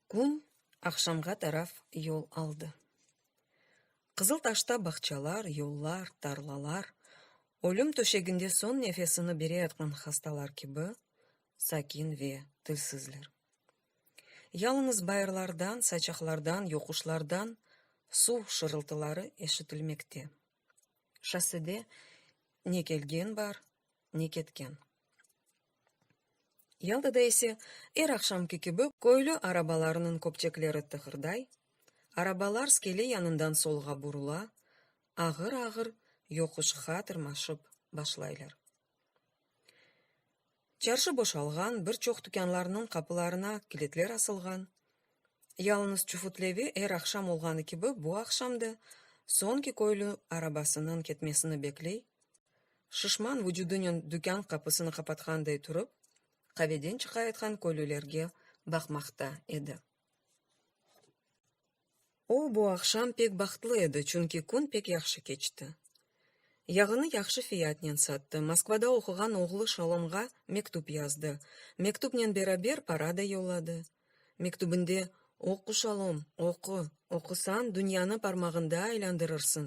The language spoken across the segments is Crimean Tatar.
Kün aqşamğa taraf yol aldı. Qızıltaşta bağçalar, yollar, tarlalar, ölüm töşeginde soñ nefesini bereyatqan hastalar kibi, sakin ve tilsizler. Yalıñız bayırlardan, saçaqlardan, yoquşlardan suv şırıltıları eşitilmekte. Şossede ne kelgen bar, ne ketken. Yaltada ise, er aqşamki kibi, köylü arabalarınıñ köpçekleri tıqırday, arabalar skele yanından solğa burula, ağır-ağır yoquşqa tırmaşıp başlaylar. Çarşı boşalğan, bir çoq tükânlarnıñ qapılarına kilitler asılğan. Yalıñız çufutlevi er aqşam olğanı kibi bu aqşam da soñki köylü arabasınıñ ketmesini bekley, şişman vucudınen dükân qapısını qapatqanday turıp, qaveden çıqayatqan köylülerge baqmaqta edi. O, bu aqşam pek bahtlı edi, çünki kün pek yahşı keçti. Yağını yahşı fiyatnen sattı, Moskvada oquğan oğlu Şalomğa mektüp yazdı, mektüpnen beraber para da yolladı. Mektübinde, Oqu, Şalom, oqu, oqusañ, dünyanı parmağında aylandırırsıñ,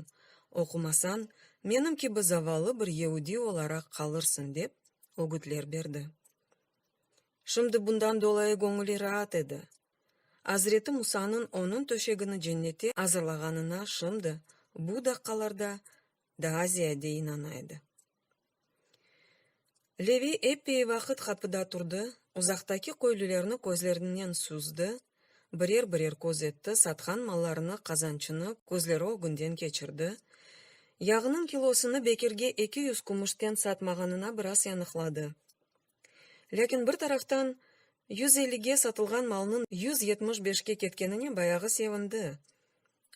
oqumasañ, menim kibi zavallı bir yeudiy olaraq qalırsıñ, dep ögütler berdi. Şimdi bundan dolayı göñüli raat edi. Azreti Musanıñ onıñ töşegini cennete azırlağanına şimdi, bu daqqalarda daa ziyade inana edi. Levi epey vaqıt qapıda turdı, uzaqtaki köylülerni közlerinden süzdi, birer-birer köz etti, satqan mallarını, qazançını közleri ögünden keçirdi, yağnıñ kilosını bekirge eki yüz kümüşten satmağanına biraz yanıqladı. Lâkin bir taraftan, yüz ellige satılğan malnıñ yüz yetmiş beşke ketkenine bayağı sevindi.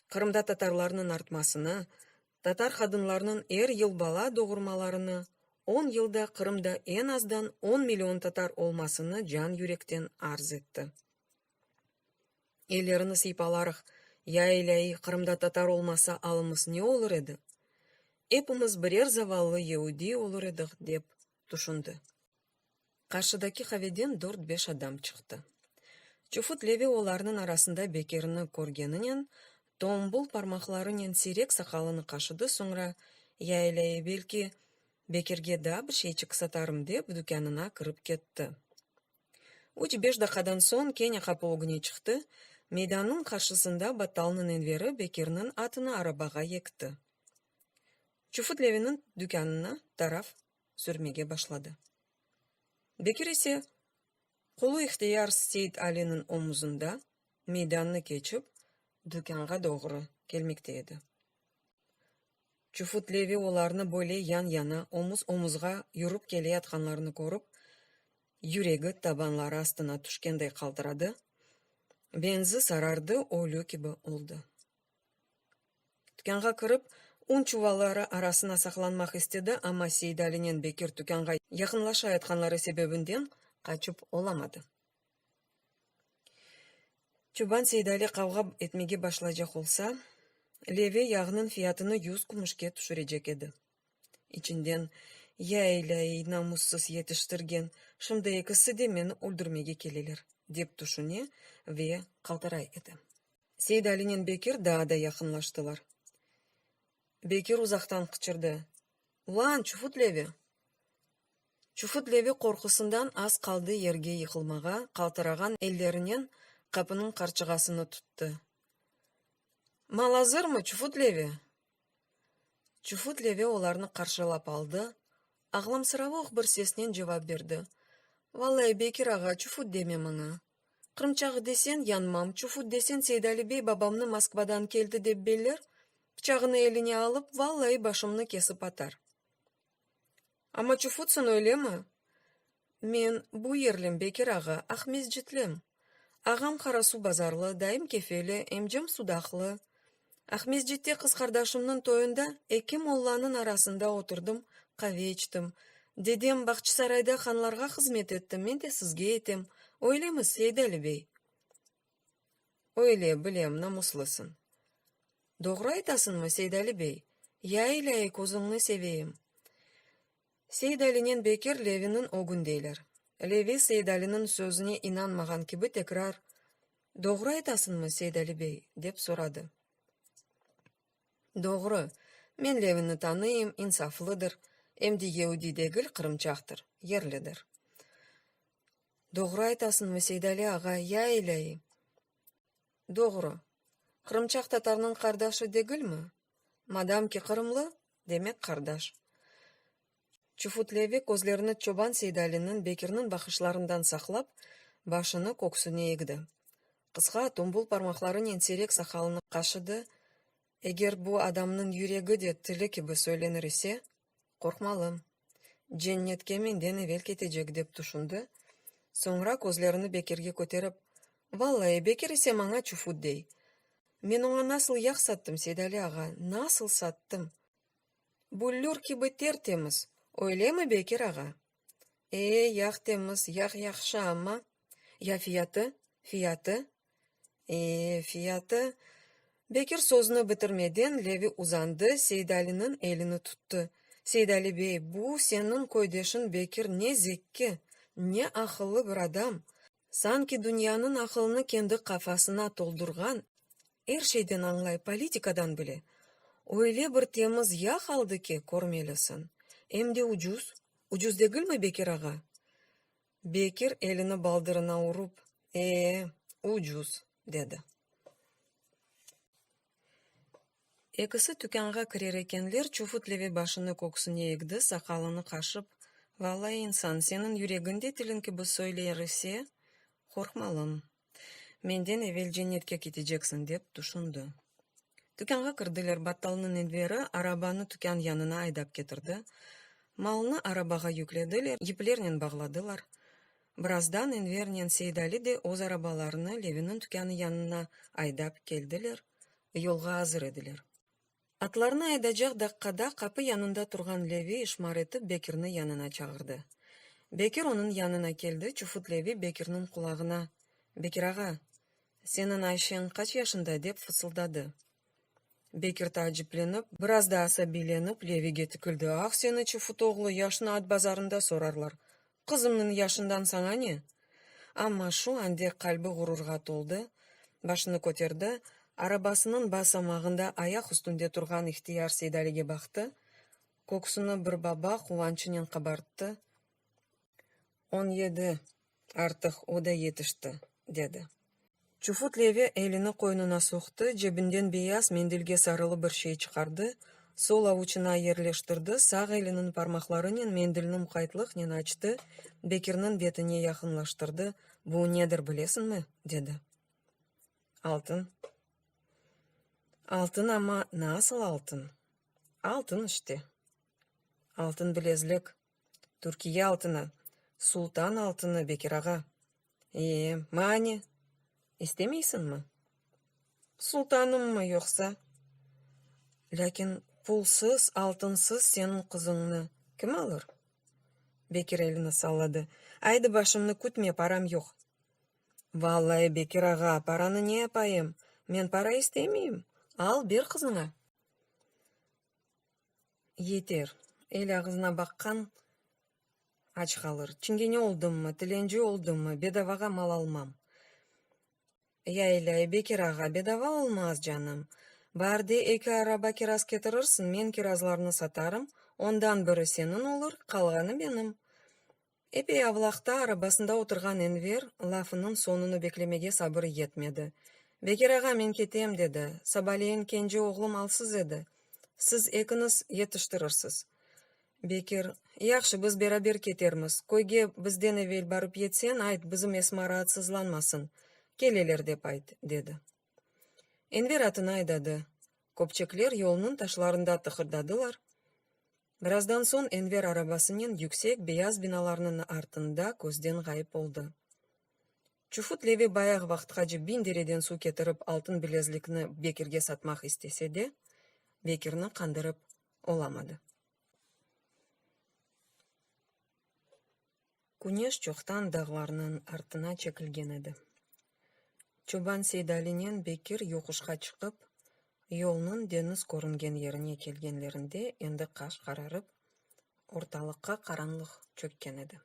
Qırımda tatarlarnıñ artmasını, tatar qadınlarnıñ er yıl bala doğurmalarını, on yılda Qırımda eñ azdan on million tatar olmasını can-yürekten arz etti. Ellerini sıypalaraq, Ya ilâiy, Qırımda tatar olmasa alımız ne olur edi? Epimiz birer zavallı yeudiy olur ediq, dep tüşündi. Qarşıdaki qaveden dört-beş adam çıqtı. Çufut Levi olarnıñ arasında Bekerni körgeninen, tombul parmaqlarınen siyrek saqalını qaşıdı, soñra, Yaylâ-ey, belki, Bekerge daa bir şeyçik satarım, dep, dükânına kirip ketti. Üç-beş daqadan soñ kene qapı ögüne çıqtı, meydannıñ qarşısında battalnıñ enveri Bekerniñ atını arabağa yekti. Çufut Leviniñ dükânına taraf sürmege başladı. Bekir ise, qolu ihtiyar Seit Aliniñ omuzında, meydannı keçip, dükânğa doğru kelmekte edi. Çufut Levi olarnı böyle yan-yana, omuz-omuzğa yürip keleyatqanlarını körip, yüregi tabanları astına tüşkenday qaltıradı, benzi sarardı, ölü kibi oldı. Tükânğa kirip, un çuvalları arasına saqlanmaq istedi, amma Seidalinen Bekir tükânğa yaqınlaşayatqanları sebebinden qaçıp olamadı. Çoban Seidali qavğa etmege başlaycaq olsa, leve yağnıñ fiyatını yüz kümüşke tüşürecek edi. İçinden, Ya ilâiy, namussız yetiştirgen, şimdi ekisi de meni öldürmege keleler, dep tüşüne ve qaltıray edi. Seydalinen Bekir daa da yaqınlaştılar. Bekir uzaqtan qıçırdı, Ulan, çufut-leve! Çufut-leve qorqusından az qaldı yerge yıqılmağa, qaltırağan ellerinen qapınıñ qarçığasını tuttı. Mal azırmı, çufut-leve? Çufut Leve olarnı qarşılap aldı, ağlamsıravuq bir sesnen cevap berdi, Valay, Bekir ağa, çufut deme mına. Qırımçağı desen, yanmam, çufut desen, Seydali bey babamnı Moskvadan keldi dep beller, pıçağını eline alıp, vallayı başımnı kesip atar. Amma çufutsan, öylemi? Men, bu yerlim, Bekir ağa, Aqmescitlim. Ağam Qarasuv bazarlı, dayım Kefeli, emcem Sudaqlı. Aqmescitte qız qardaşımnıñ toyunda eki mollanıñ arasında oturdım, qave içtim. Dedem, Bağçısarayda hanlarğa hızmet etti, men de sizge etem, öylemi, Seydali bey? Öyle, bilem, namuslısıñ. Doğru aytasıñmı, Seydali bey? Ya, ilâiy, közüñni seveyim! Seydalinen Bekir Leviniñ ögün deyler. Levi Seydaliniñ sözüne inanmağan kibi tekrar, Doğru aytasıñmı, Seydali bey? dep soradı. Doğru, men Levini tanıyım, insaflıdır, em de yeudi degil, qırımçaqtır, yerlidir. Doğru aytasıñmı, Seydali ağa, ya elâi? Doğru. Qırımçaq tatarnıñ qardaşı degilmi? Madam ki qırımlı, demek qardaş. Çufutlevi közlerini çoban Seydaliniñ, Bekirniñ baqışlarından saqlap, başını köksüne egdi. Qısqa, tombul parmaqlarınen seyrek saqalını qaşıdı, Eger bu adamnıñ yüregi de tili kibi söylenir ise, Qorqmalı. Cennetke menden evel ketecek, dep tüşündi, soñra közlerini Bekirge köterip, Vallai, Bekir ise maña çufut dey. Men oña nasıl yağ sattım, Seydali ağa, nasıl sattım! Büllür kibi ter-temiz, öylemi, Bekir ağa? E, yağ temiz, yağ yahşı, amma, ya fiyatı? Fiyatı? E, fiyatı? Bekir sözüni bitirmeden Levi uzandı, Seydaliniñ elini tuttı. Seydali bey, bu, seniñ köydeşiñ Bekir ne zekki, ne aqıllı bir adam, Sanki dünyanıñ aqılını kendi qafasına toldurğan, er şeyden añlay politikadan bile, öyle bir temiz yağ aldı ki, körmelisiñ, em de ucuz, ucuz degilmi, Bekir ağa? Bekir elini baldırına urup, ee, ucuz, dedi. Ekisi tükânğa kirer ekenler, Çufut-Leve başını köksüne egdi, saqalını qaşıp, Valla, insan, seniñ yüregiñ de tiliñ kibi söyler ise, qorqmalım. Menden evel cennetke keteceksiñ, dep tüşündi. Tükânğa kirdiler. Battalnıñ indleri arabanı tükân yanına aydap ketirdi. Malnı arabağa yüklediler, yiplernen bağladılar. Birazdan Envernen Seidali de öz arabalarını Leviniñ tükânı yanına aydap keldiler, yolğa azır ediler. Atlarını aydacaq daqqada qapı yanında turğan Levi işmar etip Bekirni yanına çağırdı. Bekir onıñ yanına keldi, çufut Levi Bekirniñ qulağına, Bekir ağa, seniñ Ayşeñ qaç yaşında? dep fısıldadı. Bekir taaciplenip, biraz da asabiylenip, Levige tikildi, Ah, seni, çufut oğlu, yaşnı at bazarında sorarlar. Qızımnıñ yaşından saña ne? Amma şu ande qalbi ğururğa toldı, başını köterdi, arabasınıñ basamağında ayaq üstünde turğan ihtiyar Seydaliga baqtı, köksüni bir baba quvançınen qabarttı, On yedi, artıq o da yetişti, dedi. Çufut Levi elini qoynuna soqtı, cebinden beyaz mendilge sarılı bir şey çıqardı, sol avuçına yerleştirdi, sağ eliniñ parmaqlarınen mendilni muqaytlıqnen açtı, Bekirniñ betine yaqınlaştırdı, Bu nedir bilesiñmi? dedi. Altın. Altın, amma nasıl altın? Altın işte. Altın bilezlik. Türkiye altını, sultan altını, Bekir ağa. Ee, mane, istemeysiñmi? Sultanımmı yoqsa? Lâkin pulsız, altınsız seniñ qızıñnı kim alır? Bekir elini salladı. Aydı, başımnı kütme, param yoq. Vallai, Bekir ağa, paranı ne yapayım? Men para istemeyim, al, ber qızıña. Yeter, el ağızına baqqan aç qalır. Çingene oldımmı, tilenci oldımmı, bedavağa mal almam. Ya İlây, Bekir ağa, bedava olmaz, canım. Bar de, eki araba kiraz ketirirsiñ, men kirazlarnı satarım, ondan biri seniñ olur, qalğanı benim. Epey avlaqta arabasında oturğan Enver lafınıñ soñunı beklemege sabırı yetmedi. Bekir ağa, men ketem, dedi, sabaleyin kenci oğlum alsız edi, siz ekiñiz yetiştirirsız. Bekir, Yahşı, biz beraber ketermiz, köyge bizden evel barıp yetseñ, ayt, bizim Esma raatsızlanmasın, keleler dep ayt, dedi. Enver atını aydadı. Köpçekler yolnıñ taşlarında tıqırdadılar. Birazdan soñ Enver arabasınen yüksek beyaz binalarnıñ artında közden ğayıp oldı. Çufut Levi bayaq vaqtqace biñ dereden suv ketirip altın bilezlikni Bekirge satmaq istese de, Bekirni qandırıp olamadı. Küneş çoqtan dağlarnıñ artına çekilgen edi. Çoban Seydalinen Bekir yoquşqa çıqıp, yolnıñ deñiz körüngen yerine kelgenlerinde endi qaş qararıp, ortalıqqa qaranlıq çökken edi.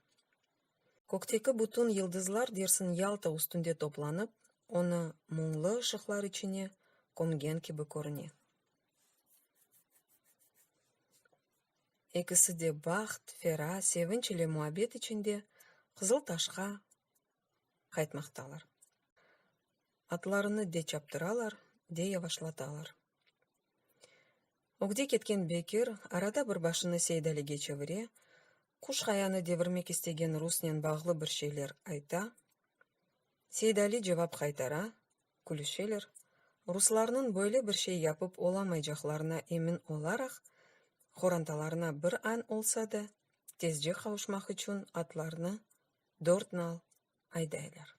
Kökteki bütün yıldızlar dersin Yalta üstünde toplanıp, onı muñlı ışıqlar içine kömgen kibi körüne. Ekisi de baht, fera, sevinç ile muabbet içinde Qızıl Taşqa qaytmaqtalar. Atlarını de çaptıralar, de yavaşlatalar. Ögde ketken Bekir arada bir başını Seydaliga çevire, quş qayanı devirmek istegen rusnen bağlı bir şeyler ayta. Seydali cevap qaytara, külüşeler, ruslarnıñ böyle bir şey yapıp olamaycaqlarına emin olaraq, qorantalarına bir añ olsa da, tezce qavuşmaq içün atlarnı dört nal aydaylar.